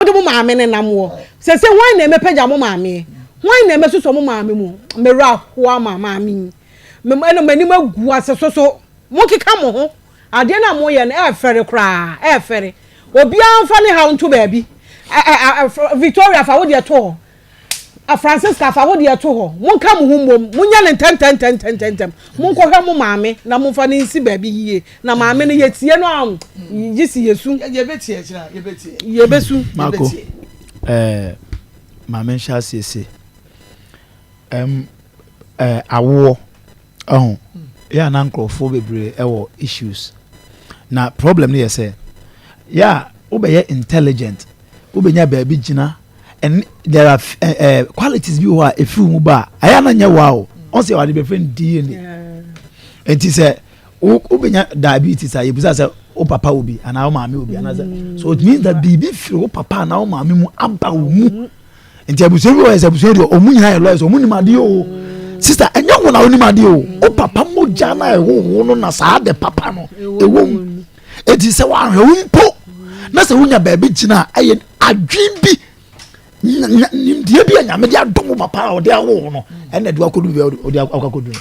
mode mo maame no nam wɔ. Sese hwan na ɛmɛpagya mo maameɛ? Hwan na ɛmɛsosɔ mo maame mu? Mewura ho ama maame yi. Mem ɛna m'anim agu ase soso. Monkeka mo ho. Adeɛ no a moyɛ no ɛɛfɛre koraa. Ɛɛfɛre. Obiara mfa ne haw nto baabi. Victoria fa wo deɛ to hɔ. A Francisca, fa wo deɛ to hɔ. Monka mo ho mmom. Monyɛ no ntɛmntɛmntɛmntɛmntɛm. Monkɔhwɛ mo maame na momfa no nsi baabi yie. Na maame no, yɛtie no a, gye sɛ yɛsu. Yɛbɛtie akyire a, yɛbɛtie. Yɛbɛsu. Marco, eh, ma menhyɛ aseɛ se. Um, eh, awoɔ. Ɔho yɛ a na nkorɔfoɔ bebree ɛwɔ issues na problem no yɛ sɛ yɛ a wobɛyɛ intelligent wobɛnya baabi gyina and there are uh, uh, qualities bi wɔ hɔ a ɛfiri mu ba a ɛyɛ na nyɛ wa o ɔn sɛ wɔde bɛfrɛ no dna ɛnti sɛ wobɛnya diabetes a yɛbisa sɛ wo papa wo bi anaa wo maame wo bi anaa sɛ so it means that biribi firi wo papa anaa wo maame mu aba wo mu nti abusua bi wɔ yɛ sɛ abusua deɛ ɔmu nyinaa yɛ lawyers ɔmu nim adeɛ o sista ɛnyɛ wɔn na ɔnim adeɛ o o papa mogya na ɛhoho no na saa de papa no ɛwɔ mu eti sɛ wɔahwɛ wo mpo na sɛ wonya baabi gyina a ɛyɛ adwin bi nimdeɛ bi a nyame de adom papa a ɔde ahoho no ɛna ɛde wakɔdu bi a ɔde akɔkɔdu no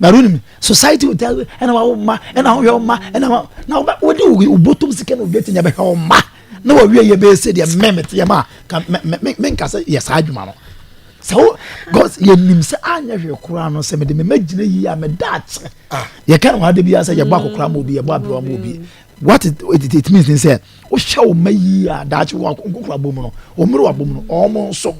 bari onim society o tell ɛna wa wo mma ɛna wo hwɛ wo mma ɛna wa na wo bɛ wo de wo bo tom sika na obi etinya bɛ hwɛ wo mma na wa wie yɛ bɛ ese deɛ mɛ mɛ teɛ ma ka mɛ mɛ mɛ nka sɛ yɛ saa adwuma no sɛ wo cause yɛ nim sɛ anyɛ hwɛ koraa no sɛ mɛ de mɛ mɛ gyina yie a mɛ da akyɛ yɛ ka na wa de bi asɛ yɛ bɔ akokora ma obi yɛ bɔ aberewa ma obi what it, it, it means ne sɛ wohyɛ wo mma yie a daakye wɔ nkokoro abom no wɔmmere wɔ abom no wɔn nso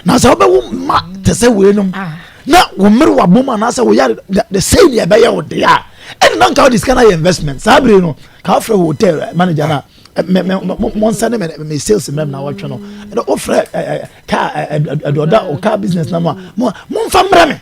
na sɛ wobɛwo mma te sɛ weinom ah. na wɔmmere wɔ abom anaasɛ woyɛ the same yɛ ɛbɛyɛ wo deɛ a ɛne na nka wode sika no ayɛ investment saa bere no ka wofrɛ hotel eh, manager no a eh, monsa ne me sales mmam na wɔtwe no wofrɛ eh, ka aduɔda ɔka business no mu a momfa mmerɛ me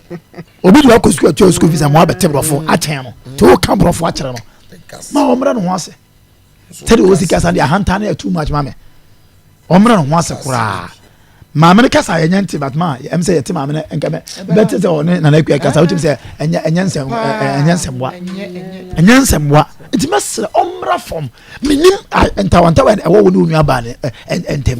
obi de wakɔ sukuu ɔtua sukuu fees a mo abɛte borɔfo akyɛn no te wo ka borɔfo akyerɛ no ma ɔmmrɛ ne ho ase sɛdeɛ ɔsi kasa deɛ ahantan no yɛ too much ma me ɔmmrɛ ne ho ase koraa maame no kasa yɛ nyɛ nte but ma ɛm sɛ yɛte maame no nka mɛ bɛte sɛ ɔne nana akua kasa wotumi sɛ ɛnyɛ ɛnyɛ nsɛm ɛnyɛ nsɛmboa ɛnyɛ nsɛmboa nti mɛsrɛ ɔmmra fam menim ntawantawa ɛwɔ wo ne wo nuabaa ne ntɛm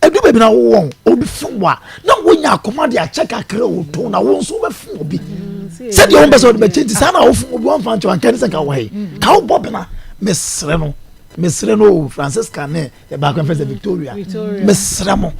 Edu baabi na wo wɔn obi fun wa na wo nya akoma de akyɛ kakra o tɔn na wo nso bɛ fun obi sɛdeɛ wɔn bɛ sɛ ɔde bɛ kyɛ nti saa na wo fun obi wɔn fa nkyɛn nka ne sɛ nka wɔ he ka wo bɔ bena mesrɛ no mesrɛ no o Francisca ne baako yɛn fɛ sɛ Victoria mesrɛ mo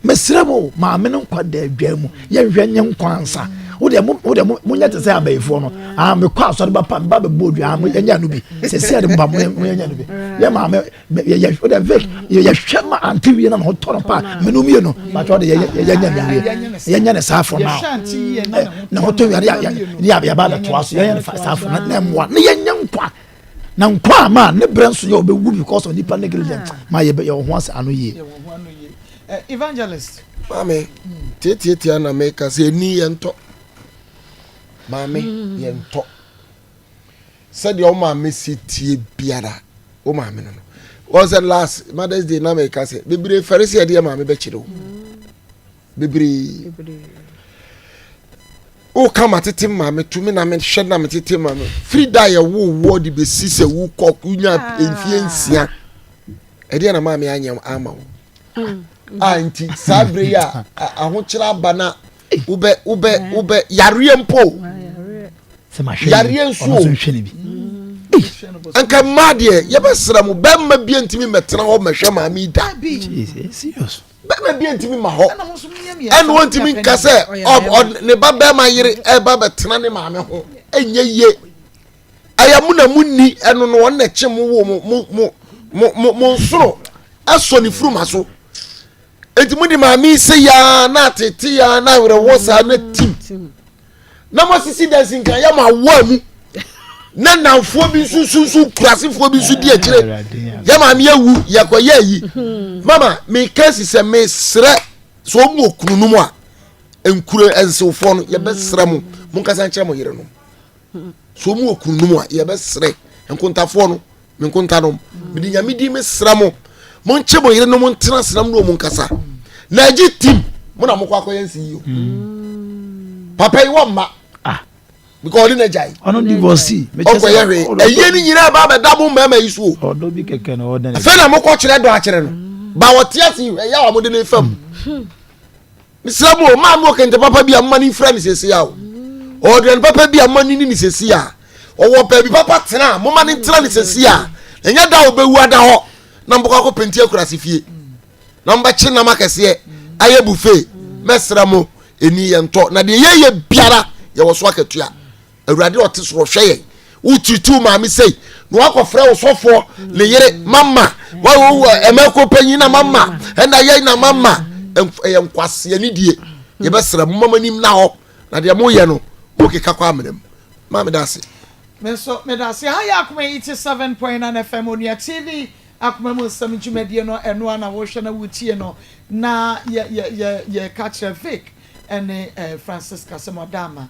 mesrɛ mo o maame no nkwa da adwa mu yɛnhwɛ nye nkwa nsa wo deɛ mo wo deɛ mo mo nyɛ te sɛ abɛyifoɔ no aa mekɔ asɔre ba pa mba bɛ bɔ odua mo yɛnyɛ no bi sɛ si yɛ de mo ba mo yɛ mo yɛnyɛ no bi yɛ maame. yɛhwɛ ma ante wie na na ɔtɔ no pa menu mie no matɔ de yɛnyɛ no wie yɛnyɛ no saa fo no na ɔtɔ wie ne yɛba bɛtoa so yɛnyɛ no saa fo no na mmoa na yɛnyɛ nkwa na nkwa a ma ne berɛ nso yɛ ɔbɛwu because of nipa negligent ma yɛwɔ ho ase ano yie evangelist maame tiatiatia na meka sɛ ɛni yɛntɔ maame yɛntɔ Sɛdeɛ wo maame si tie biara wo maame no no wɔn sɛ last mothers day na mɛka sɛ bebree fɛre sɛ ɛdeɛ maame bɛkyerɛ o bebree woka ma tete maame tumi na mehwɛ na me tete maame firi da yɛ wo woɔ de bɛsi sɛ wokɔ wonya ah. mfie nsia ɛdeɛ na maame anyɛ ama wo hmm. a ah, nti saa berɛ yi a ahokyerɛ aba na wobɛ wobɛ wobɛ yareɛ mpo yareɛ nso o nka mmaa deɛ yɛbɛsra mu bɛrima bi ntumi mɛtena hɔ mɛhwɛ maame da bɛrima bi ntumi ma hɔ ɛna wɔntumi nka sɛ ne ba bɛrima yere ɛba bɛtena ne maame ho ɛnyɛ yie ɛyɛ mo na mo ni ɛno no wɔn na ɛkye mo wo mo mo mo mo mo nsoro ɛsɔ ne furuma so. eti mo de maame yi se yaa na atete yaa na awerɛhoɔ saa na tim na mo asisi dansi nkan yɛ mo awoa mu na nanfoɔ bi nso sunsun kurasefoɔ bi nso di akyire yɛ maame awu yɛkɔ yɛ ayi mama meka si sɛ mesrɛ sɛ ɔmu wɔ kunu no mu a nkuro nsewfoɔ no yɛbɛsrɛ mo mo nkasa nkyerɛ mo yere no so wɔn wɔ kununom a yɛbɛsrɛ nkontafoɔ no me nkontanom mede nyame din mesrɛ mo monkyɛ mo yere no mo ntena senam ne ɔmu nkasa na agye tim mo na mokɔ akɔyɛ nsi yio mm. papa yi wɔ mma ah. because ɔde n'agya yi ɔno divorce ɔkɔyɛ hwee ɛyɛ ne nyinaa ba abɛda mo mmarima yi so o afei na mokɔ kyerɛ dɔ akyerɛ no ba wɔte ase ɛyɛ a wɔde ne fam hmm. mesrɛ mo maa no ɔkɛntɛ papa bi a mma no mfira ne sɛsi a o ɔduane papa bi a mma no ni ne sɛsi a ɔwɔ baabi papa tena a moma no ntena ne sɛsi a ɛnyɛ da a ɔbɛwu ada hɔ na mbɔkɔ akɔ penti akurase fie na mbɛkye nam akɛseɛ ayɛ buffet mɛsrɛ mo ɛni yɛntɔ na deɛ yɛyɛ biara yɛwɔ so akatua Awurade a ɔte soro hwɛ yɛn. Wotutu wo maame sei na wakɔfrɛ wo sɔfoɔ ne yere mama ɛmɛko panyin na mama ɛna yɛn na mama ɛyɛ nkwaseɛ ne die yɛbɛsrɛ mo mama nim na hɔ na deɛ moyɛ no mokeka kɔ amena mu ma meda ase meso meda ase ha yɛ akoma 87.9 fm onua tv akoma mu nsɛm dwumadie no ɛno a na wohwɛ na wotie no na yɛka kyerɛ vic ɛne eh, francisca sɛ mɔda ama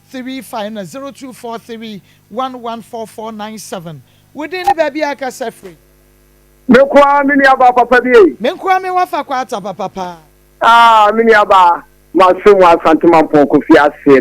three five na zero two four three one one four four nine seven Wo din ne baabi a akasa firi. Me nko ara me nuabaa papa bi ei. Me nko ara me wafa kwaata papa paa. Ah me nuabaa, masom wɔ Asante Mampɔn Kofi ase no.